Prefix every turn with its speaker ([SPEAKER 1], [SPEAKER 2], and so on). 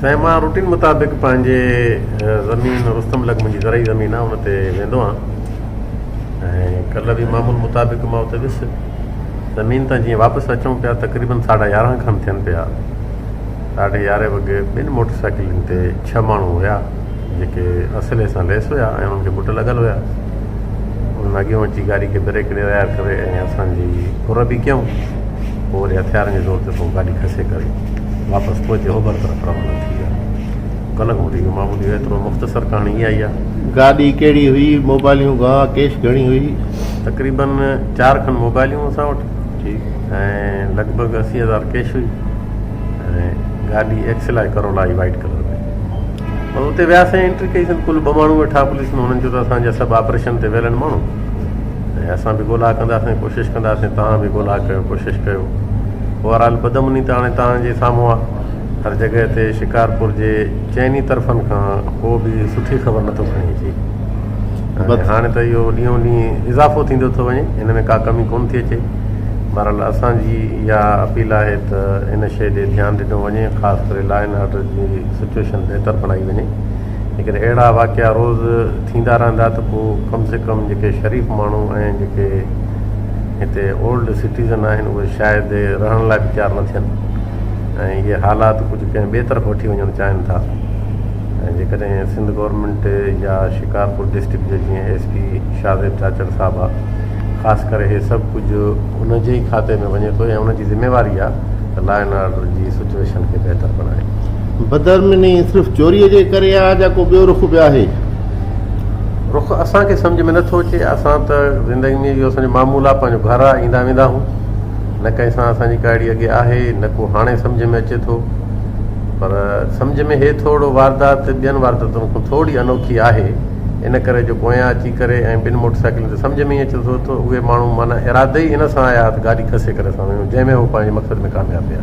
[SPEAKER 1] سائين مان روٽين مطابق پنهنجي زمين رستم لڳ منهنجي زرعي زمين آهي ان تي ويندو آهيان ۽ ڪلهه به معمول مطابق مان اتي ويس زمين تان جيئن واپس اچون پيا تقريبن ساڍا يارهن کن ٿين پيا ساڍي يارهين وڳي ٻن موٽر سائيڪلن تي ڇهه ماڻهو هيا جيڪي اصلي سان ليس هيا ۽ انهن کي بٽ لڳل هيا انهن اڳيون اچي گاڏي کي بريڪ ڏيرائي ڪري ۽ اسان جي ڦر به ڪيائون پوء وري هٿيارن جي زور تي ڪو گاڏي کسي ڪري واپس پهچي اوڀر طرف روانا ٿي ويا. ڪلهه کان وٺي اهو معمولي هو. ايترو مختصر ڪهاڻي اها ئي آهي. گاڏي ڪهڙي هئي؟
[SPEAKER 2] موبائليون گانهه ڪيش گهڻي هئي؟ تقريباً
[SPEAKER 1] چار کن موبائليون اسان وٽ ۽
[SPEAKER 2] لڳ ڀڳ
[SPEAKER 1] اسي هزار ڪيش هئي ۽ گاڏي ايڪسل آء ڪرولا هئي وائيٽ ڪلر ۾. بس اتي وياسين انٽري ڪئي سين. ڪل ٻه ماڻهو ويٺا پوليس ۾ هنن چيو ته اسان جا سڀ آپريشن تي ويل آهن ماڻهو. ۽ اسان به ڳولا ڪنداسين ڪوشش ڪنداسين توهان به ڳولا ڪيو ڪوشش ڪيو بهرحال بدامني ته هاڻي توهان جي سامهون آ هر جڳهه تي شڪارپور جي چئن ئي طرفن کان ڪو به سٺي خبر نٿو کڻي اچي بس هاڻي ته اهو ڏينهون ڏينهن اضافو ٿيندو ٿو وڃي هن ۾ ڪا ڪمي ڪون ٿي اچي بهرحال اسان جي اها اپيل آهي ته ان شيء ڏي ڌيان ڏنو وڃي خاص ڪري لا اينڊ آرڊر جي سچويشن بهتر بڻائي وڃي جيڪڏهن اهڙا واقعا روز ٿيندا رهندا ته پوء ڪم سي ڪم جيڪي شريف ماڻهو ۽ جيڪي هتي اولڊ سٽيزن آهن اهي شايد رهڻ لاء به تيار نه ٿين ۽ اهي حالات ڪجهه ڪنهن ٻئي طرف وٺي وڃڻ چاهين ٿا ۽ جيڪڏهن سنڌ گورنمينٽ يا شڪارپور ڊسٽرڪٽ جو جيئن ايس پي شاهزيب چاچڙ صاحب آهي خاص ڪري هي سڀ ڪجهه ان جي ئي کاتي ۾ وڃي ٿو ۽ ان جي ذميواري آهي ته لا اينڊ آرڊر جي سچوئيشن کي بهتر بڻائي. بدامني صرف
[SPEAKER 2] چوريء جي ڪري آهي جا ڪو ٻيو رخ به آهي؟
[SPEAKER 1] رخ اسان کي سمجهه ۾ نه ٿو اچي. اسان ته زندگي ۾ اهو اسان جو معمول آهي، پنهنجو گهر آهي، ايندا ويندا آهون. نه ڪنهن سان اسان جي ڪاهڙي اڳي آهي، نه ڪو هاڻي سمجهه ۾ اچي ٿو. پر سمجهه ۾ هي ٿورڙو واردات ٻين وارداتن کان ٿورڙي انوکي آهي. ان ڪري جو پويان اچي ڪري ۽ ٻن موٽر سائيڪلن تي سمجهه ۾ ئي اچي ٿو ته اهي ماڻهو معنيٰ ارادي ئي ان سان آيا ها ته گاڏي کسي ڪري اسان ويون جنهن ۾ هو پنهنجي مقصد ۾ ڪامياب ويا.